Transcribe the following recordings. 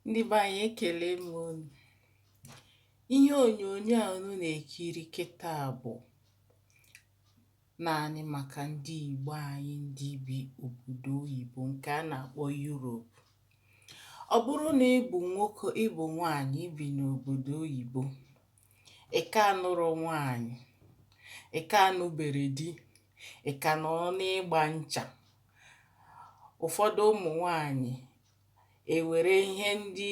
ndị be anyị ekelee m unu ihe onyonyo a unu na-ekiri kịta bụ naanị maka ndị Igbo anyị ndị bi obodo oyibo nke a na-akpọ Yurop ọ bụrụ na ị bụ nwoke ị bụ nwaanyị bi n'obodo oyibo ị ka anụrọ nwaanyị, ị ka anụbere di, ị ka nọrọ n'ịgba ncha. Ụfọdụ ụmụ nwaanyị ewere ihe ndị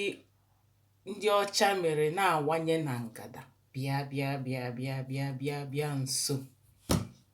ndị ọcha mere na-awanye na ngada, bịa bịa bịa bịa bịa bịa bịa nso.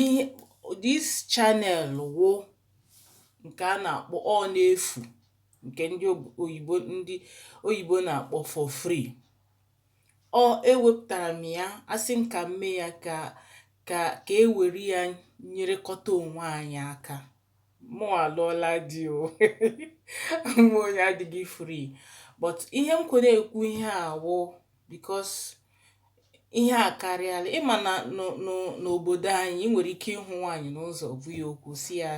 ihe this channel wụ ǹkè a nà-àkpọ ọ n'efù ǹkè ndị oyìbo ndị oyìbo nà-àkpọ for free ọ e wepùtàrà m ya a sị m kà m mee ya kà kà e wère ya nyerekọta ònwe anyị aka mụnwa alụọla di o mụ onye adịghị free but ihe m ji were ekwu ihe a wụ because ihe a karịala ị ma na n'obodo anyị ị nwere ike ịhụ nwaanyị n'ụzọ bụ ya okwu sị ya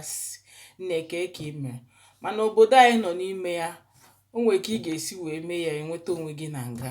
nne kee ka i mere mana obodo anyị nọ n'ime ya o nwere ka ị ga-esi wee mee ya enweta onwe gị na nga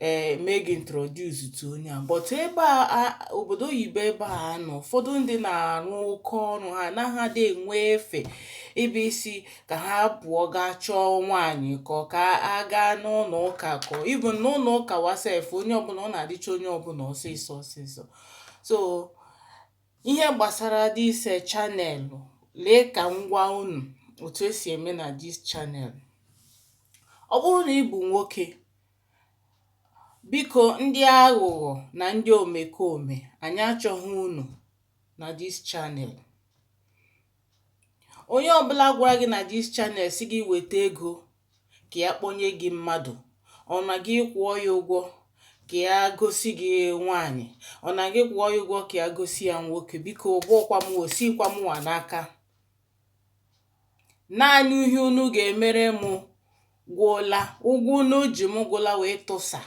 ee mee gị introduce to onye a but ebe a obodo oyibo ebe a nọ ụfọdụ ndị na-arụ oke ọrụ ha anaghị adị enwe efe ebe ị sị ka ha pụọ gaa chọọ nwaanyị kọ ka a gaa n'ụlọ ụka kọ even n'ụlọ ụka nwa sef onye ọbụla ọ na-adịcha onye ọbụla ọsịsọ ọsịsọ so ihe gbasara this eh, channel lee ka m gwa unu otu e si eme na this channel ọ bụrụ na ị bụ nwoke Biko ndị aghụghọ na ndị omekome, anyị achọghị unu na this channel. Onye ọbụla gwara gị na this channel sị gị weta ego ka ya kpọnye gị mmadụ, or na gị kwụọ ya ụgwọ ka ya gosi gị nwaanyị, or na gị kwụọ ya ụgwọ ka ya gosi ya nwoke, biko ọ bụghịkwa m o sikwa mụwa n'aka. Naanị ihe unu ga-emere m gwụla, ụgwọ unu ji m gwụla wee tụsa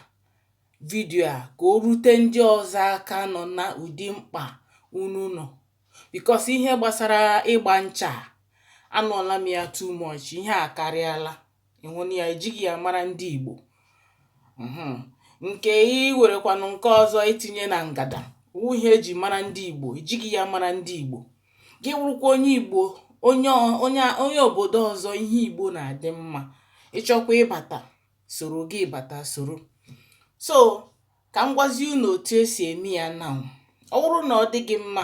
vidio a ka o rute ndị ọzọ aka nọ na ụdị mkpa unu nọ. Because ihe gbasara ịgba ncha a, anụọla m ya too much, ihe a akarịala. ịhụ na ya ejighị ya mara ndị Igbo mhm. nke i werekwanụ nke ọzọ i tinye na ngada wụ ihe e ji mara ndị Igbo ejighị ya mara ndị Igbo gị wụrụkwa onye Igbo onye onye onye obodo ọzọ ihe Igbo na-adị mma ị chọkwa ịbata soro gị bata soro so ka m gwazie unu otu e si eme ya now ọ wụrụ na ọ dị gị mma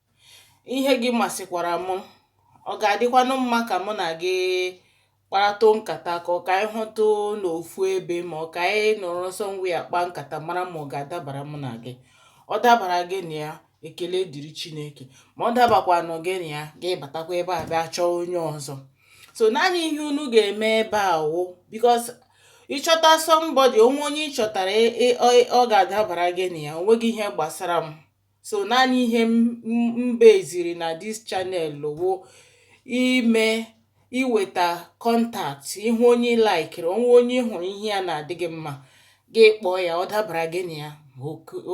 ihe gị masịkwara m ọ ga-adịkwanụ mma ka mụ na gị kparatụ nkata ka ọ ka anyị hụtụ n'ofu ebe ma ọ ka anyị nọrọ somewhere kpaa nkata mara ma ọ ga-adabara mụ na gị ọ dabara gị na ya ekele dịrị chineke ma ọ dabakwanụ gị na ya gị batakwa ebe a bịa chọọ onye ọzọ so naanị ihe unu ga-eme ebe a wụ bikos ịchọta sọmbọdị o nwee onye ị chọtara ị- ị- ọ ọ ga-adabara gị na ya o nweghị ihe gbasara m so naanị ihe m beziri na dis chanel wụ ime iweta kọntakt ị hụ onye ị laikiri o nwee onye ị hụrụ ihe ya na-adị gị mma gị kpọọ ya ọ dabara gị na ya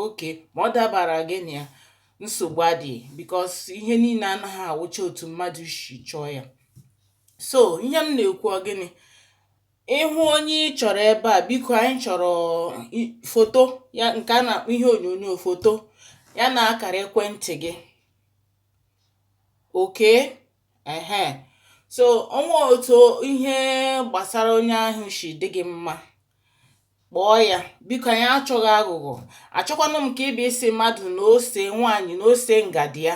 oke ma ọ dabara gị na ya nsogbu adịghị bikos ihe niile anaghị awụcha otu mmadụ si chọọ ya so ihe m na-ekwu ọ gịnị ị hụ onye ị chọrọ ebe a biko anyị chọrọ foto ya nke a na-akpọ ihe onyonyo foto ya na akara ekwentị gị oke ehe so o nwee otu ihe gbasara onye ahụ si dị gị mma kpọọ ya biko anyị achọghị aghụghọ achọkwanụ m ka ị bịa sị mmadụ na ose nwaanyị na ose ngadi ya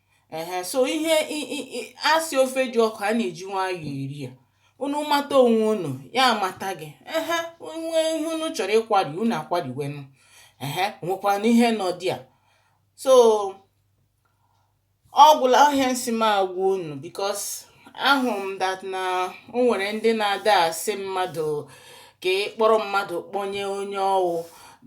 ehe so ihe a sị ofe dị ọkụ a na-eji nwayọọ eri ya unu mata onwe unu ya amata gị ehe o nwee ihe unu chọrọ ịkwari unu akwariwenụ ehe nwekwanụ ihe nọ dị ya so ọ gwụla ihe m sị m agwa unu bikos ahụ m dat na o nwere ndị na-ada asị mmadụ ka ị kpọrọ mmadụ kpọnye onye ọ wụ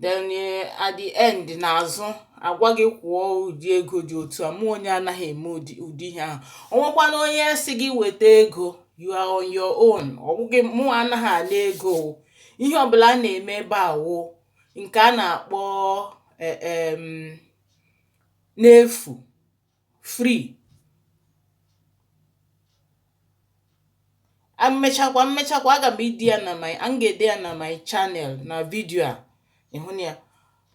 then eh, at the end n'azụ agwa gị kwụọ ụdị ego dị otu a mụwa anaghị eme ụdị ụdị ihe ahụ o nwekwanụ onye sị gị weta ego you are on your own ọ bụghị mụwa anaghị ala ego o. ihe ọbụla a na-eme ebe a wụ nke a na-akpọ eh, em, n'efu free mmechakwa mmechakwa aga m ede ya na my a m ga-ede ya na my channel na vidio a ị hụ na ya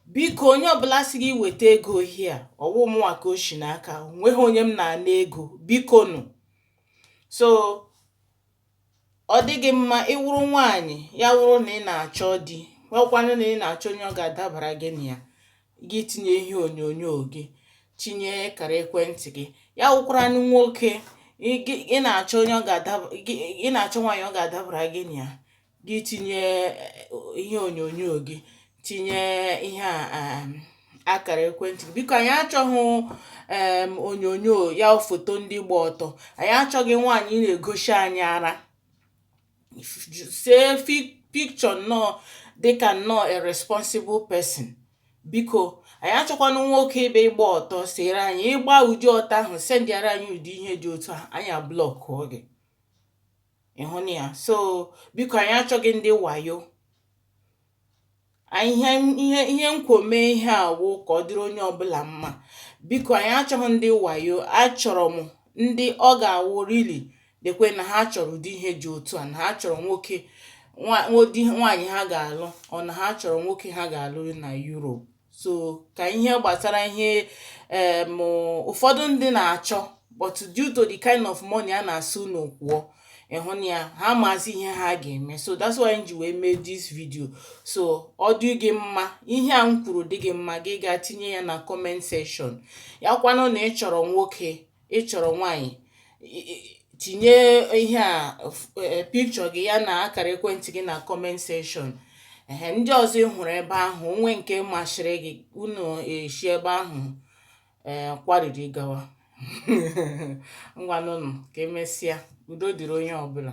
biko onye ọbụla sị gị weta ego hia ọ wụ mụnwa ka o si n'aka nweghị onye m na-ana ego bikonu so Ọ dị gị mma ị wụrụ nwaanyị ya wụrụ na ị na-achọ di wụkwaranụ na ị na-achọ onye ọ ga-adabara gị na ya gị tinye ihe onyonyo gị tinye akara ekwentị gị ya wụkwaranụ nwoke ị na-achọ onye ọ ga-adaba ị na-achọ nwaanyị ọ ga-adabara gị na ya gị tinye ihe onyonyo gị tinye ihe a um, akara ekwentị biko anyị achọghị um, onyonyo ya foto ndị gba ọtọ anyị achọghị nwaanyị na-egosi anyị ara see picture nnọọ dịka nnọọ a responsible person biko anyị achọkwana nwoke ịbịa ịgba ọtọ sere anyị ị gba ụdị ọtọ ahụ sendịara anyị ụdị ihe dị otu a anyị ablọkụọ gị ị hụna ya so biko anyị achọghị ndị wayo ihe ihe ihe m kwo mee ihe a wụ ka ọ dịrị onye ọbụla mma biko anyị achọghị ndị wayo achọrọ m ndị ọ ga-awụ really dekwe na ha chọrọ ụdị ihe dị otu a na ha chọrọ nwoke nwa ụdị nwaanyị ha ga-alụ or na ha chọrọ nwoke ha ga-alụ na Europe so ka ihe gbasara ihe em ụfọdụ ndị na-achọ but due to the kind of money a na-asị unu kwụọ ị hụna ya ha amazị ihe ha ga-eme so that's why m ji wee mee this video so ọ dị gị mma ihe a m kwuru dị gị mma gị gaa tinye ya na comment section ya kwanụ na ị chọrọ nwoke ị chọrọ nwaanyị tinye ihe a e, picture gị ya na akara ekwentị gị na comment section ehe ndị ọzọ ị hụrụ ebe ahụ o nwee nke masịrị gị unu esi ebe ahụ ee eh, kwariri gawa ngwanụnụ ka e mesịa udo dịrị onye ọbụla